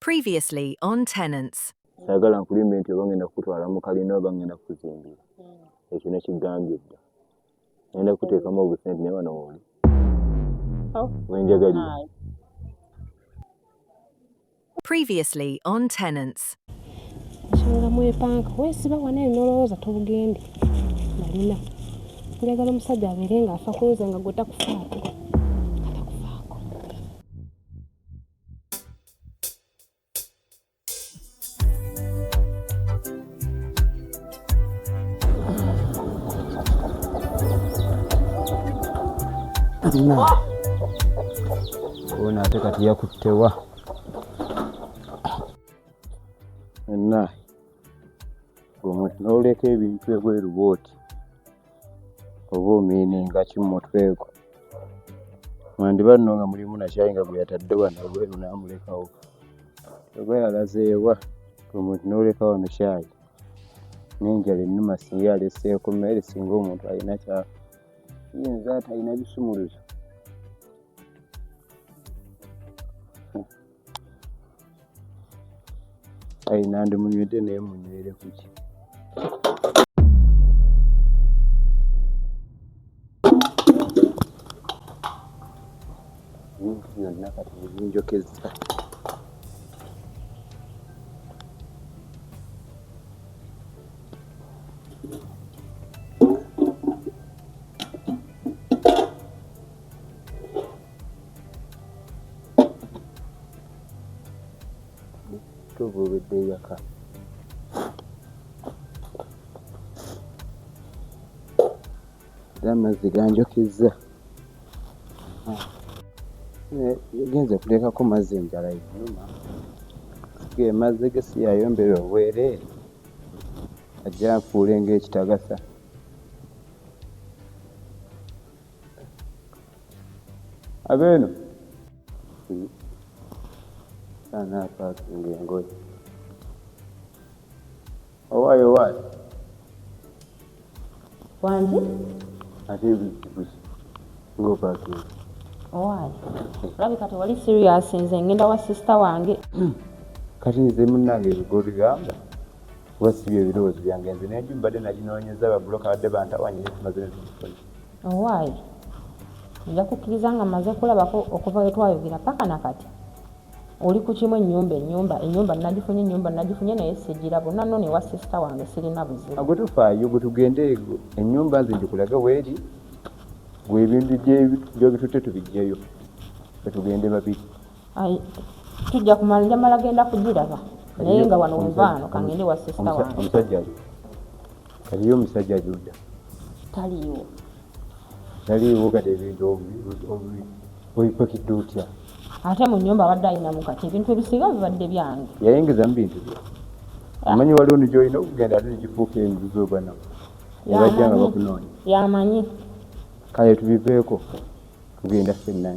Previously on tenants. Sagala nkulimbe nti oba ngenda kukutwala mu kalina oba ngenda kukuzimbira. Hmm. Ekyo nekigambye dda. Ngenda kukuteekamu obusente naye wano wooli. Oh. Wenjagalira. Previously on tenants. Nsonga mwepanka weesiba wano eno n'olowooza tobugende malina njagala omusajja abeere ng'afa kunze nga gwe takufaako Ona ate kati yakuttewa enna gwe n'oleka ebintu ebweru bwoti oba omiininga ki mu mutwe gwo mwandiba nno nga mulimu nakyayi nga gwe yatadde wano ebweru n'amulekawo oba yalazeewa gwe n'oleka wano kyayi n'enjala ennuma singa yaleseeko mmere singa omuntu alina kya yinza atalina bisumuluzo ayi nandi munywedde naye munywere kuki ebintu byonna kati nebinjokeza kyova obedde eyaka era amazzi ganjokizza eh, genze kutekako mazzi enjala yenuma ge mazzi ge siyayombera obwereere ajja nfuule ng'ekitagasa abeeno sana apakinga engoye owaayo owaayo wangi ate ebizibuzi ngaopakinga owaayo olabi kati wali serious nze ngenda wa sisita wange hmm. kati nze munange ebigo bigamba kuba si bye birowoozo byange nze nenju mbadde naginoonyeza babuloka badde bantawanyira ekimaze nezikufuna owaaye nja kukkiriza nga mmaze kulabako okuva we twayogera paka na kati oli ku kimu ennyumba ennyumba ennyumba nagifunye ennyumba nagifunye naye sigira bona no ne wa sisita wange sirina buzibu agwe tufaayo gwe tugende ennyumba nze ngikulage weeri gwe ebintu gyobitutte tubijjeyo gwe tugende babiri tujja kumala njamala genda kugiraba naye nga wano wevaano kangende wa sisita wange Aliyo omusajja Juda? Taliiwo. Taliiwo kati ebintu obipakidde otya? Ate mu nnyumba abadde alinamu kati ebintu ebisinga bibadde byange. Yayingizamu bintu bye. Ah. Omanyi waliwo ni gy'olina okugenda ate nekifuuka enju z'obanamu ne bajja nga bakunoonya. Yamanyi. Kale tubiveeko tugenda fenna.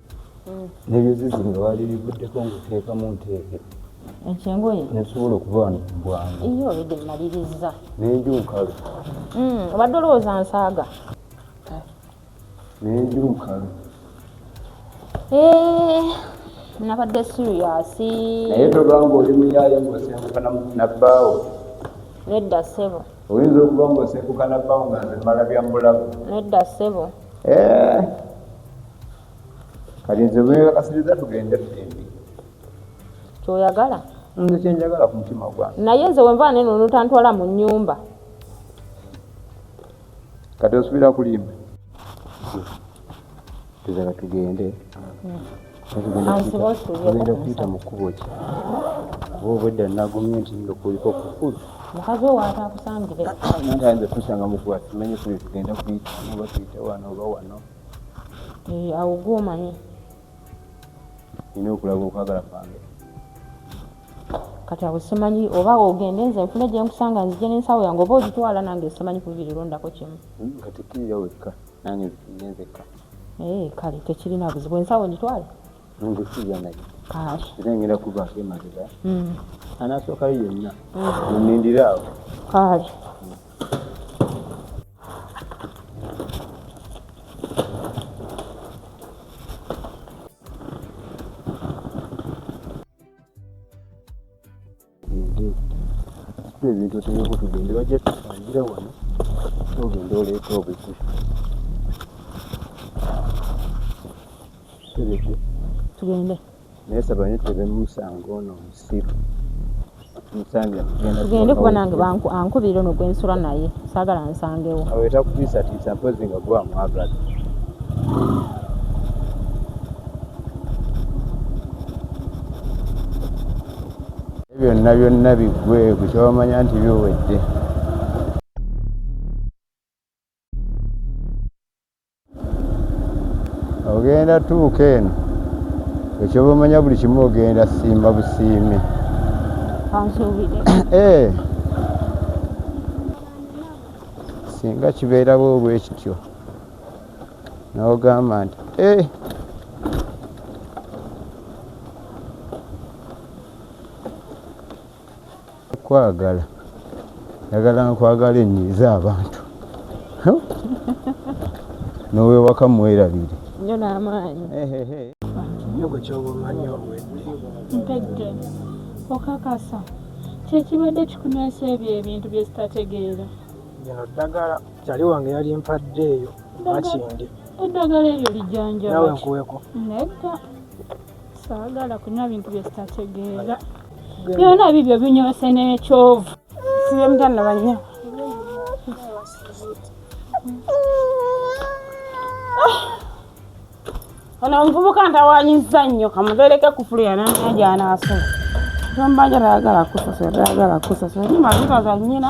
nebyozezi nga balirivuddeko ngaoteekamu nteeke ekyengoye nesobola okuba wano kubwangu iyo obedde mmaliriza nenju nkalu hmm, obadde olowooza nsaaga nenju nkalu eh, nabadde siriyasi naye togamba oli muyaye ngaosengukana nabbaawo nedda ssebo oyinza okuba ngaosengukana bbaawo nga nze mmala bya mulabu nedda ssebo Eh. kati nze bwebakasiriza tugende tugendi kyoyagala nze kyenjagala ku mutima gwange naye nze wenva neno notantwala mu nyumba kati osubira kulimba tuzala tugende hmm. ogenda kuyita mu kkubo ki oba obwedda nagumye nti nga kuliko kukulu mukazi owo atakusangire nze kusanga mukuba tumenye kule tugenda kuyita oba tuyite wano oba wano eh, awo gwomanyi nina okulaga okwagala kwange kati awo simanyi oba ogende nze nfune gyenkusanga nzije nensawo yange oba ogitwala nange simanyi kuvirirondako kimu hmm, kati kirira wekka nange nzikirirenze kka Eh, kale tekirina buzibu ensawo ngitwale nongekirya naye era ngenda kuvaako emabega hmm. anasookayo yenna onindira hmm. awo kale ebintu oteekeko tugende bajja tusangira wano ogenda oleeta obuzi tegeke tugende naye saba nyo tebe musango ono omusiru tugende kuba nange ankubira ono gwensula naye saagala nsangewo aweta kutiisatiisa mpozi nga gwamwagala byonna byonna biggwe ku kyomanya nti biwedde ogenda tuuka eno ekyobamanya buli kimu ogenda simba busiimi eh. singa kibeerawo obwekityo n'ogamba nti eh! kwagala njagala nkwagala enyiiza abantu nowewaka mwerabire nyo n'amaanyi nyogo kyoba omanyi obwedde mpedde okakasa kyekibadde kikunywesa ebyo ebintu byezitategeera bino ddagala Kyali wange yali mpadde eyo makindi. Eddagala eryo lijanja nawe nkuweko. Nedda saagala kunywa bintu bye sitategeera. Byona bibyo binyoose n'ekyovu. Sibe mutana banya. Ah! Ono omuvubuka ntawanyiza nnyo kamubeereke kufulu yananya gyanaasula. Gamba njala yagala kusasula, yagala kusasula. Ni mazima za nnyina.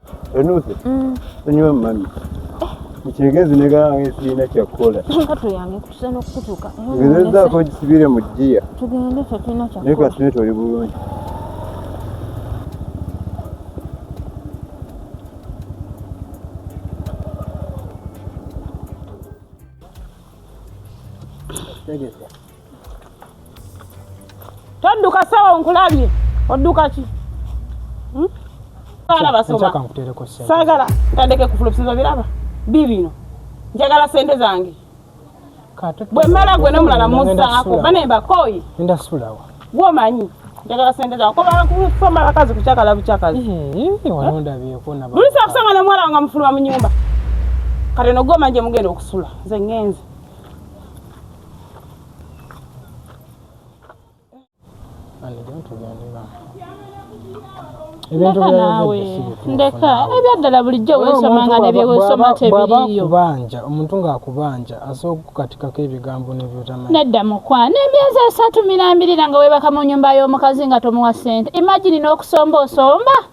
Enusi. Mm. Enyo mami. Mchegezi nega yange sina kya kola. Nga to yange kusana kutuka. Ngeza ko kisibire mu dia. Tugende fe tuna kya. Neka sina to libulungi. Thank you. todduka sawa nkulabye odduka ki hmm? saagala tandeke kufulumisiza biraba bibino njagala sente zange bwe mmala gwe nomulala muzaako bane mbakooyi gwomanyi njagala sente zange kobasoma abakazi kucakala bucakazi lusa kusanga nomwala wanga mufuluma mu nyumba kati nogwomanyi gye mugenda okusula nze ngenze ndeka naawe ndeka ebyaddala bulijjo weesoma nga nebyeweesoma tebiriyo kubanja omuntu ng'akubanja asobola okukukatikako ebigambo nebyotamanyi nedda mukwano emyezi esatu mirambirira nga weebaka mu nyumba y'omukazi nga tomuwa ssente imagini n'okusomba osomba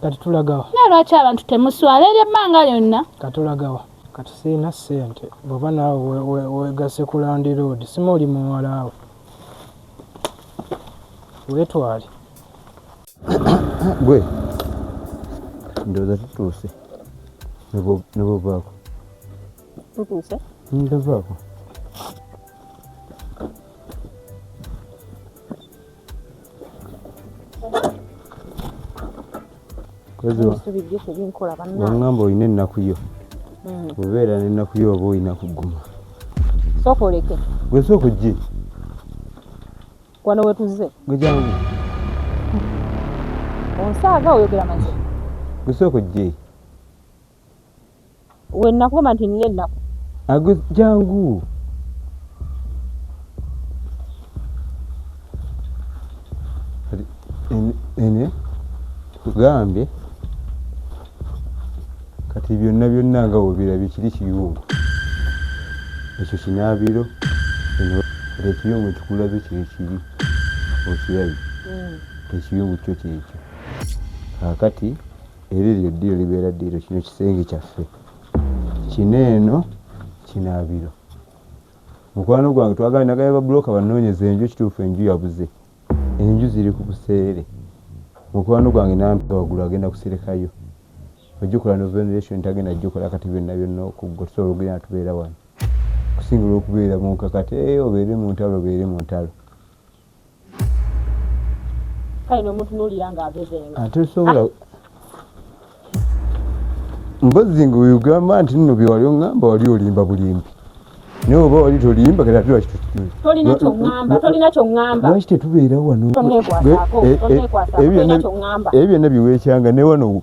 kati tulagawa naye lwaki abantu temuswala eri ebbanga lyonna katulagawa kati sirina ssente bwoba naawe wegase ku landiroodi sima oli muwalaawe weetwale gwe ndowooza tutuuse nebovaako tutuuse ndovaako wangamba olina ennaku yo hmm. obeera nennaku yo oba olina kuguma sooka oleke gwe sooka ojje wano wetuze gwejangu onsaaga oyogera mazi gwe sooka ojje we nakugamba nti nina ennaku ago jangu ene kugambye kati byonna byonna nga webirabye kiri kiyungu ekyo kinaabiro ekiyungu ekikulaze kiri kibi okirabi mm. ekiyungu kyo kyekyo kakati Eryo lye ddiiro libeera ddiiro. Kino kisenge kyaffe, kino eno kinaabiro. Mukwano gwange twagala nagaya babuloka banoonyeza enju, ekituufu enju yabuze. Enju ziri ku buseere. Mukwano gwange nampi wagulu agenda kuserekayo. Ojjukola no veneration tagenda jjukola kati byonna byonna okuggwa tusobola okugenda tubeera wano. Okusingira okubeera mu nkakati, ee obeere mu ntalo obeere mu ntalo. kale nomutunulira nga agezenga ate sobola ah. mbozi nga oyogamba nti nno byewali oŋamba wali olimba bulimbi naye oba wali tolimba kati ate lwaki tetubeera wano ebyo byonna biweekyanga newano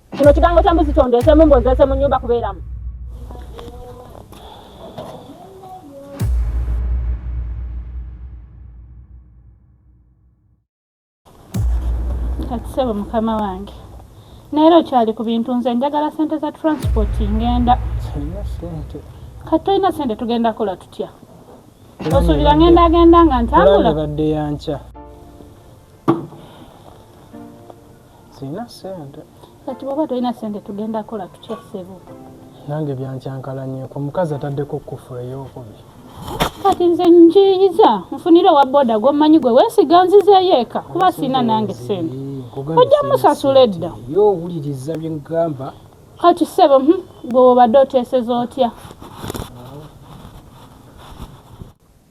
Kino kigango kya mbuzi kyondeesemu mbu nzeese mu nnyumba kubeeramu. Kati ssebo mukama wange naera okyali ku bintu nze njagala sente za transport ngenda kati tolina sente tugenda kola tutya osuubira ngenda agenda nga ntambula sirina sente kati bwoba tolina sente tugenda kola tutya sebo nange byankyankalanyeko omukazi ataddeko kufula eyokubiri kati nze njiyiza nfunire owa boda gwomanyi gwe wesiga nzizeyo eka kuba sirina nange sente ojja musasula edda yo owuliriza byengamba kati sebo hm, gwe wobadde oteseza otya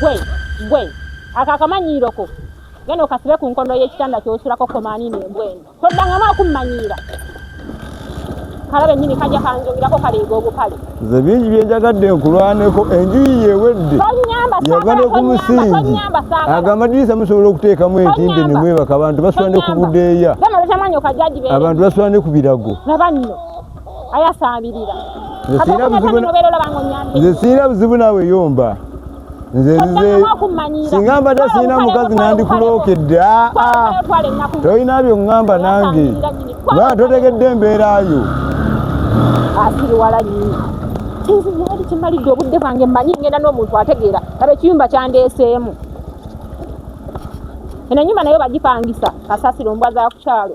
Gwe, gwe, ako akamanyiiro ko genda okasibe ku nkondo y'ekitanda kyosulako komaaniino embwenu toddangamu akummanyiira kalabe nnyini kajja kanjogerako kaleega obukale nze bingi bye njagadde nkulwaneko enjuyi yewedde yava ne ku musingi ago amadirisa musobola okuteekamu entimbe ne mwebaka abantu basula ne ku budeeya abantu basula ne ku birago ayasaabirira nze sirina buzibu naawe yomba nzesinga mbadde sirina mukazi nandikulookedde tolina byo ŋŋamba nange ba totegedde embeerayo nze yali kimalidde obudde bwange mmanyi ngenda n'omuntu ategeera aba ekiyumba kyandeeseemu eno enyumba nayo bagipangisa kasasiro mbwa za kukyalo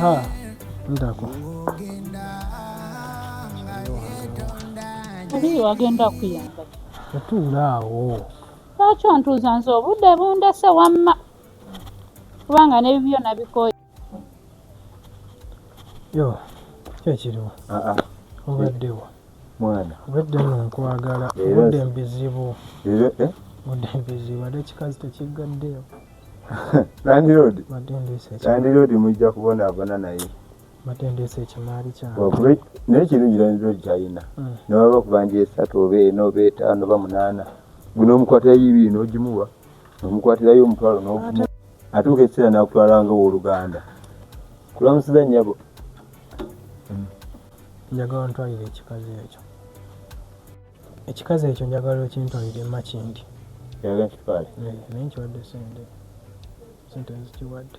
Ha, ndako. Ndiyo agenda kuyamba. Yatuula awo. lwaki ontuuza nze obudde bundese wamma kubanga nebibyo nabikoye yo kyekiriwo ah, ah. obaddewo mwana obadde no nkwagala obudde mbizibu eh? obudde mbizibu ate ekikazi tekiggaddeyo landiroodi landiroodi mujja kubonaabona naye batendeesa ekimaali kyange naye kirungi nayinza ogyayina hmm. newaba kubanja esatu oba ena oba etaano oba munaana guno omukwatirayo ibiri nogimuwa omukwatirayo omutwalo nogumu atuuka ekiseera nakutwala nga owoluganda kulamusiza nyabo hmm. njagala ntwalire ekikazi ekyo ekikazi ekyo njagala okintwalire makindi eh, naye nkiwadde sente sente nzikiwadde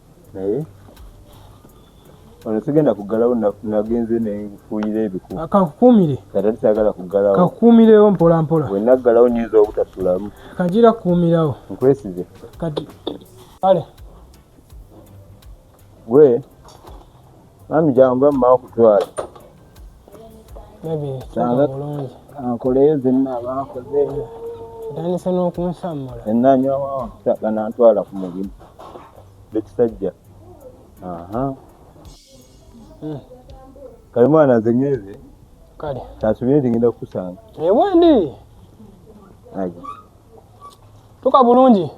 naye ono sigenda kuggalawo nagenze nenfuuyira ebiku ah, kankukuumire katati sagala kuggalawo kankukuumirewo mpola mpola we naggalawo nyinza obutasulamu kanjira kukuumirawo nkwesize kati kale gwe Mami jangu amma okutwala. Baby, tanga bulungi. Ankoleyo zenna abaakoze. Otandise n'okunsammula. Enna nyo ganantwala ku mulimu. Bekisajja. Aha. Hmm. Kale mwana nze nyweze. Kale. Tasubire nti ngenda kukusanga. Ewendi. Ayi. Tuka bulungi.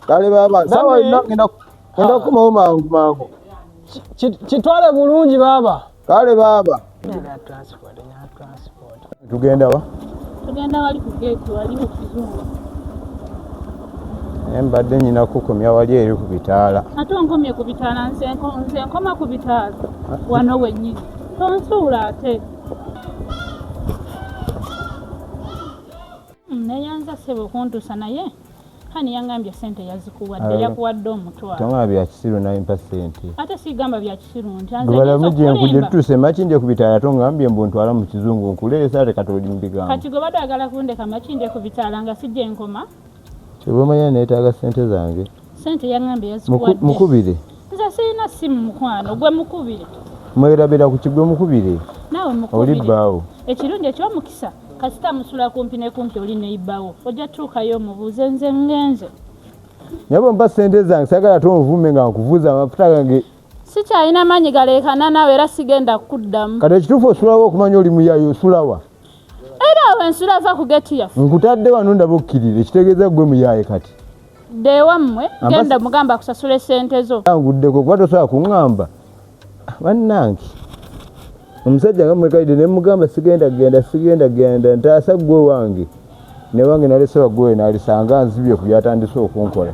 Kale baba, sawa ina ngenda kwenda kumawo mangu mangu. Kitwale bulungi baba. Kale baba. Tugenda wa? Tugenda wali ku gate wali mu kizungu. Naye mbadde nyina kukomya wali eri ku bitaala. Ate onkomye ku bitaala nze nkoma ku bitaala wano wennyini. Tonsuula ate. Naye nza sebo kuntuusa naye. Hani yangambye sente yazikuwadde yakuwadde omutwalo. Tama bya kisiru na impa sente. Ate si gamba bya kisiru nti anze. Bala muje nkuje tuse makinde kubitala to ngambye mbu ntwala mu kizungu nkule sare katoli mbiga. Kati go bado agala kunde kama kinde kubitala nga sije nkoma. Kiboma ya neta ga sente zange. Sente yangambye yazikuwadde. Mukubire. Nza sina simu mukwano gwe mukubire. Mwera bera ku kigwe mukubire. Nawe mukubire. Oli bawo. Ekirunde kyo mukisa. kasita musula kumpi ne kumpi oli neyibawo ojja tuukayo omubuuze nze ngenze naye bwempa sente zange sagala te onvume nga nkuvuza amafuta gange sikyalina maanyi galeekana naawe era sigenda kukuddamu kati ekituufu osulawo okumanya oli muyayo osulawa era awo ensula va ku geti yaffe nkutadde wano ndaba okkirira ekitegeeza gwe muyaye kati ddeewammwe genda mugamba akusasula esente zo anguddeko kuba tosobola kuŋŋamba bannange omusajja nga mwekalidde ne mugamba sigenda genda sigenda genda ntaasa ggwe wange naye wange nalese waggowe nalisanga nzibye ku byatandise okunkola